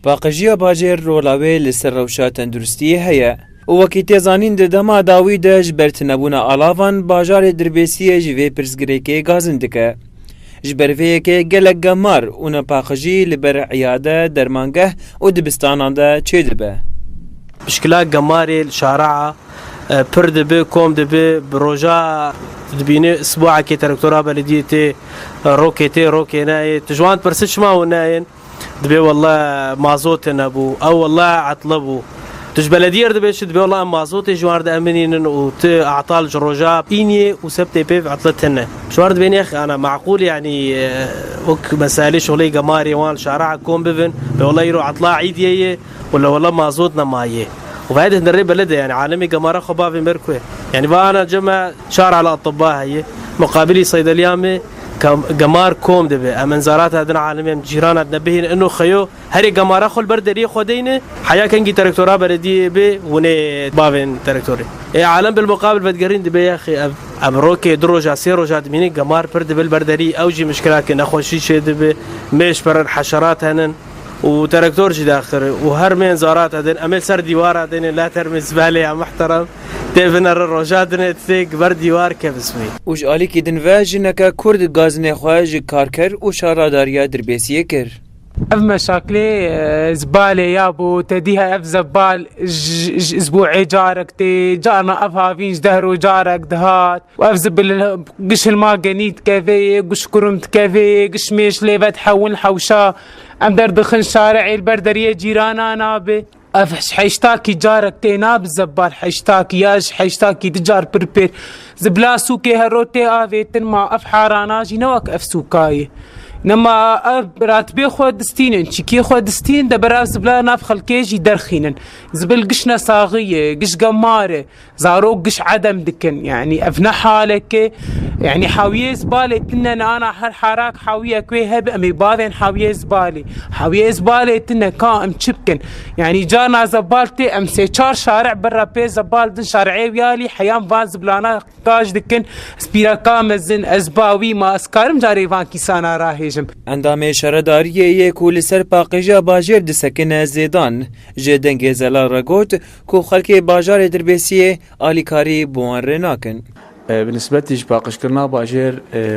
Paqijiya bajêr rola wê li ser rewşa tenduristiyê heye û wekî tê zanîn di dema dawî de ji ber tunebûna alavan bajarê Dirbêsiyê ji vê pirsgirêkê gazin dike. Ji ber vê yekê gelek gemar û nepaqijî li ber îyade, dermangeh û dibistanan de çêdibe. Pişkila gemarê li Şara'a Pir dibi, kom dibi, bi roja dibînê sbuakê terektora belediyê tê, rokê tê, rokê neyê. Tu ji wan dipirsi çima hûn neyên? Dibê wele mazotê nebû, ew wele etli bû. Tu ji belediyê re dibê çi? Dibê wele em mazotê ji wan re diemînînin û tu etal ji roja îniyê û sebtê pêv etli tune. Ji wan re dibê nêx ana meqûl yanî wek meselê şoleyê gemarê wan li şaraha kom bibin, bê wele îro etla îdiyê ye. Wela wela mazot ne maye. Û vahê din rê bele de yanî alemê gemara xwe bavê mir ku ye. Yanî va ana ca me çar ala etiba heye. Muqabilî seydeliya me ke gemar kom dibe. Em inzarata din alemê em cîrana din bihêlin ino xeyo herê gemara xwe li ber deriyê xwe deyne. Heya kengî terektora belediyeyê bê winê bavên terektorê. Ê alem bilmuqabil vedigerîn dibe yexê ev ev rokê du roja sê roja dimînin gemar pir dibe li ber deriyê ew jî mişkila ke nexweşî çêdibe mêş pir in heşerat henin. û terektor jî daxir û her mêyên zarata tên em ê li ser dîwara tên ê la termê zibale ya muhterem tê bine re roja din ê tê gi ber dîwar ke bismî. Û ji alîkî din ve jineke kurd gazinê xwe ji karker û şaradariya Dirbêsiyê kir. Ev meşaklê zibale ya bo te dîhe ev zebal ji bo ê carek tê carna ev havîn ji deh roj carek dihat û ev zî bi giş hilma genî dikeve yê, giş kurum dikeve yê, giş mêş lê ve dihewin hewşa. Em derdixin şarê ê li ber deriyê cîranan a bi. Ev ji heştakî carek tê na bi zebbar heştakî ya ji heştakî du car pir pir. Zî bila sûkê her roj tê avêtin ma ev harana jî ne wek ev sûka ye. Ne ma ev ratibê xwe distînin, çîkiyê xwe distînin de berav zibila nav xelkê jî derxînin. Zibil giş nesaxî ye, giş gemar e. Zarok giş edem dikin. Yanî ev ne haleke yanî hewiyê zibalê tine ne ana her harak hewiyek wê hebe em ê bavên hewiyê zibalê. Hewiyê zibalê tine ka em çi bikin? Yanî carna zebal tê em sê çar şaric birre pê zebal din şaricê wiyalî heyan van zibilana qaj dikin ez pîreka mezin ez bawî ma ez karim carê van kîsana rahêjim. Endamê şaredariyê yê ku li ser paqijîya bajêr disekine Zêdan ji dengê zelal re got, Ku xelkê bajarê Dirbêsiyê alîkarî bi wan rê nakin. Bi nisbetî ji paqijkirina bajêr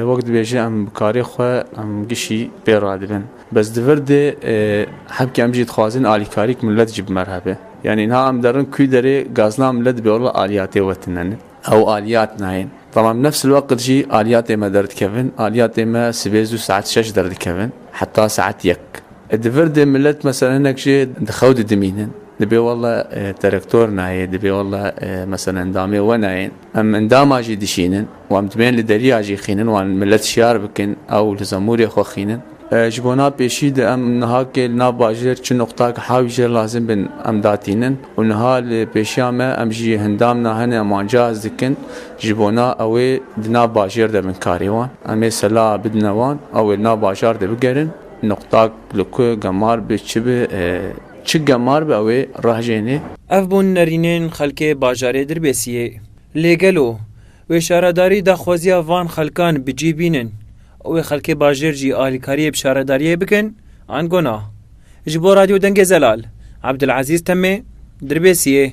wek dibêje em bi karê xwe em gişî pê radibin. Bes di vir de hebkê em jî dixwazin alîkarî ku milet jî bimerhebe. Yanî niha em derin kû derê gazna milet dibe wila aliyatê wetine ne. Ew aliyat nayên. Tamam nefs li weqit jî aliyatê me derdikevin. Aliyatê me sibê zû saet şeş derdikevin heta saet yek. Di vir de milet mesela hinek jê di xew de dimînin. Dibê walla terektor nayê, dibê walla meselen endamê we nayên. Em endama jî dişînin û em dibên li deriya jî xînin wan milet şiyar bikin ew li zemûrê xwe xînin. Ji bo na pêşî de em nihakê li nav bajêr çi nuqtak hawî jêr lazim bin em datînin û niha li pêşiya me em jî endam na hene em wan cihaz dikin ji bo na ewê di nav bajêr de bin karê wan. Em ê sela bidine wan ewê li nav bajar de bigerin nuqtak li ku gemar bi çi bi. Çi gemar be ew ê rahjênê. Ev bûn nerînên xelkê bajarê Dirbêsiyê. Lê gelo wê şaredarî daxwaziya van xelkan bi cî bînin û wê xelkê bajêr jî alîkariyê bi şaredariyê bikin an gona? Ji bo Radyo Dengê Zelal, Ebdulezîz Temê, Dirbêsiyê.